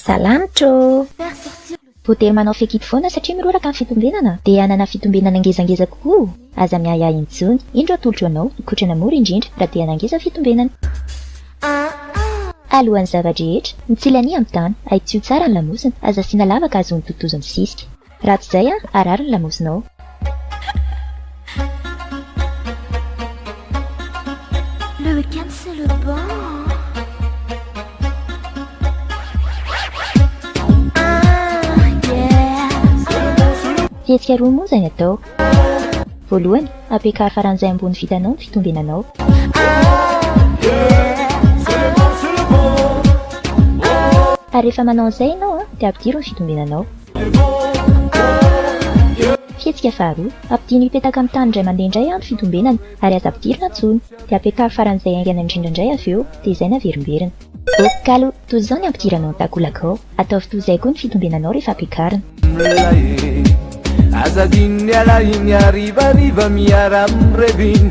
Salamtro! Ho dia manao fekidy foana satria miroraka ny fitombenana dia hanana fitombenana ngezangeza kokoa o! Aza miahiahy intsony! Indro atolotro anao, mikotrana mora indrindra raha te hanao ngeza ny fitombenana. Alohan'ny zava-drehetra, mitsilany amin'ny tany, ahitsio tsara ny lamosina, aza asiana lavaka ahazoany totozy misisika. Raha tsy izay an, harary ny lamosinao. Le week-end c'est le bon. Fihetsika roa moa izay ny atao. Voalohany, ampiakaro faran'izay ambony vitanao ny fitombenanao. Ary rehefa manao an'izay ianao dia ampidiro ny fitombenanao. Fihetsika faharoa, Ampidino hipetaka amin'ny tany indray mandeha indray an ny fitombenana ary aza ampidirina intsony. Dia apetaro faran'izay haingana indrindra indray avy eo, dia izay naverimberina. Ekalo, toy izao ny ampidiranao ny takolakao. Ataovy toy izay koa ny fitombenanao rehefa ampiakarina. Mlay e, aza adino ny alahiny harivariva miara-mirevy iny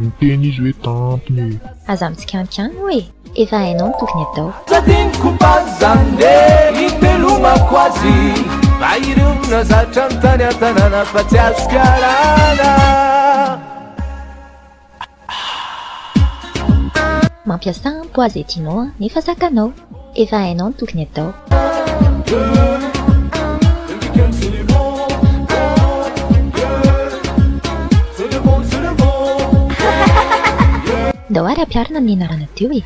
Niteny izy hoe tampony e. Aza mitsikankano hoe. Efa hainao ny tokony atao. Tsy adinoko baza nge itelomako azy Fa ireo nazatra ny tany an-tanàna fa tsy azo karana Mampiasa ampo aza e Tino a, nefa zakanao. Efa hainao ny tokony atao. Ndao ary ampiharina amin'ny anarana teo e!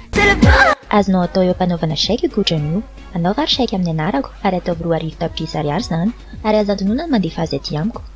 Azonao atao eo am-panaovana chèque io Google io. Anaovy ary chèque amin'ny anarako ary ataovy roa arivo tapitrisa ariary izany ary aza adinoina ny mandefa azy aty amiko.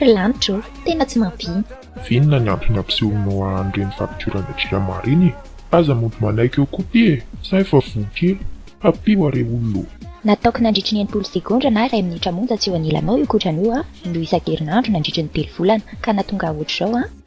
Ry lanitra ô, tena tsy mampino. Vinona ny antony ampisehoanao an reny fapidiorana jirama reny e! Aza mody manaiky eo koa ty e! Za efa voa kely! Ampio a re olona ô! Nataoko nandritry ny enimpolo segondra na iray minitra monja tsy eo anilanao io kotrana io an, indroa isan-kerinandro nandritry ny telo volana, ka nahatonga ahy ohatr'izao an.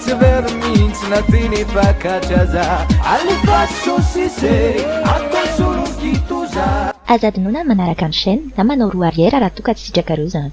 Tsy very mihitsy na ty ny mpakatra za Alefa sosise atao solo kitoza Aza adinoina ny manaraka ny chaîne na manao roue arrière raha toa ka tsy sitrakareo izany.